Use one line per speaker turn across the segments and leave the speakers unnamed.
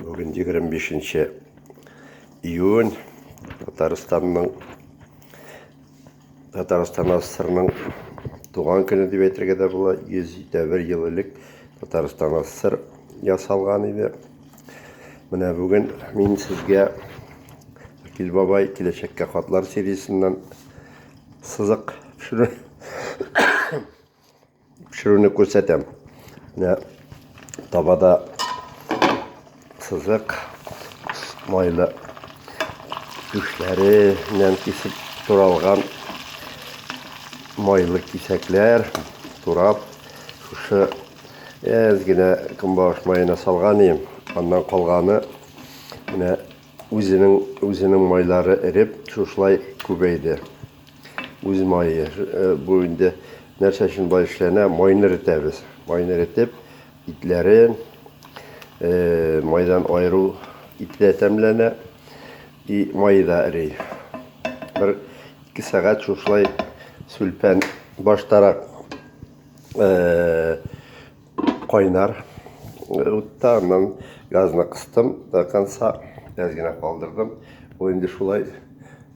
Бүген 25 нче июнь Татарстанның Татарстан АССРның туган көне дип әйтергә дә була. 101 ел элек Татарстан АССР ясалган иде. Менә бүген мин сезгә Акил бабай киләчәккә хатлар сериясеннән сызык төшерә. Пешерүне күрсәтәм. Менә табада сызык майлы түшләреннән кисеп туралган майлы кисәкләр турап шушы әз генә көнбагыш маена салган идем. Аннан калганы менә Үзенең майлары эреп, шушылай күбәйде. Үз мае. Бу инде нәрсә өчен болай эшләнә? Майны эретәбез. Майны эретеп, итләрен майдан аеру итле тәмләнә. И майы да эри. Бер ике сәгать шушылай сүлпән баштарак Кайнар утта аннан газны кыстым до конца, әз генә калдырдым. Ул инде шулай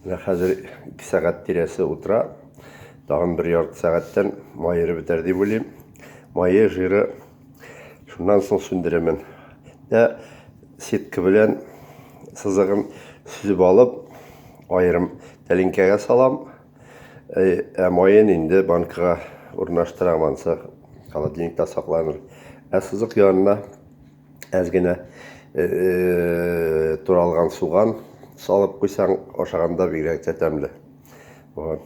менә хәзер 2 сәгать тирәсе утыра. Тагын бер ярты сәгатьтән майыры бетәр дип уйлыйм. Мае, жиры шуннан соң сүндерәмен. Ә сетка белән сызыгын сүзеп алып, аерым тәлинкәгә салам. Ә майын инде банкага урнаштырам, ансы холодильникта сакланыр. Ә сызык янына әз генә э, э, туралган суган салып куйсаң, ашаганда бигрәк тә тәмле. Вот.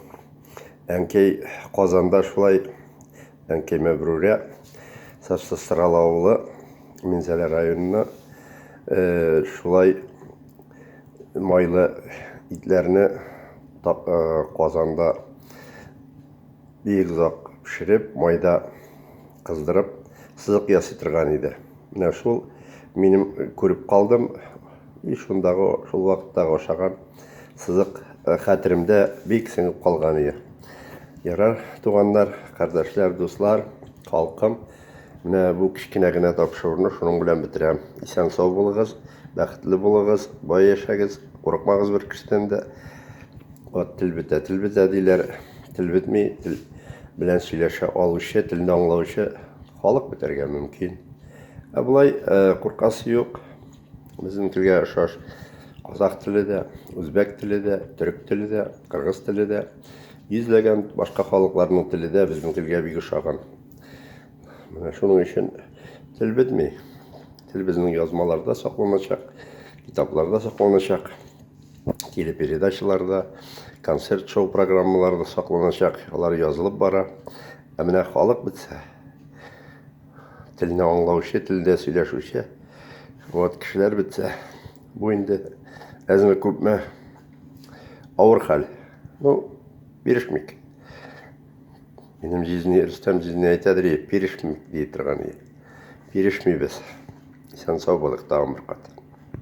Әнкәй Казанда шулай әнкәй Мәбрүрә Сарсыстрал авылы Минзәлә районына э, шулай майлы итләрне казанда бик озак пешереп, майда кыздырып, сызык ясый торган иде. Менә шул минем күреп калдым, и шундагы шул вакыттагы ашаган сызык э, хәтеремдә бик сеңеп калган иде. Ярар, туганнар, кардәшләр, дуслар, халкым, Менә бу кечкенә генә тапшыруны шуның белән бетерәм. Исән-сау булыгыз, бәхетле булыгыз, бай яшәгез, курыкмагыз бер кешедән дә. Вот тел бетә, тел бетә диләр. Тел бетми, тел белән сөйләшә алучы, телне аңлаучы халык бетәргә мөмкин. Ә болай куркасы юк. Безнең телгә ошаш казах теле дә, үзбәк теле дә, төрек теле дә, кыргыз теле дә, йөзләгән башка халыкларның теле дә безнең телгә бик ошаган. Менә шуның өчен тел бетми. Тел безнең язмаларда сакланачак, китапларда сакланачак, телепередачаларда, концерт-шоу программаларда сакланачак. Алар язылып бара. Ә менә халык бетсә, телне аңлаучы, телдә сөйләшүче вот кешеләр бетсә, бу инде әзме күпме авыр хәл. Ну, бирешмик. Минем җизни, Рөстәм җизни әйтәдер, е, бирешмик, ди торган, е. Бирешмибез. Исән-сау булыйк, тагын бер кат.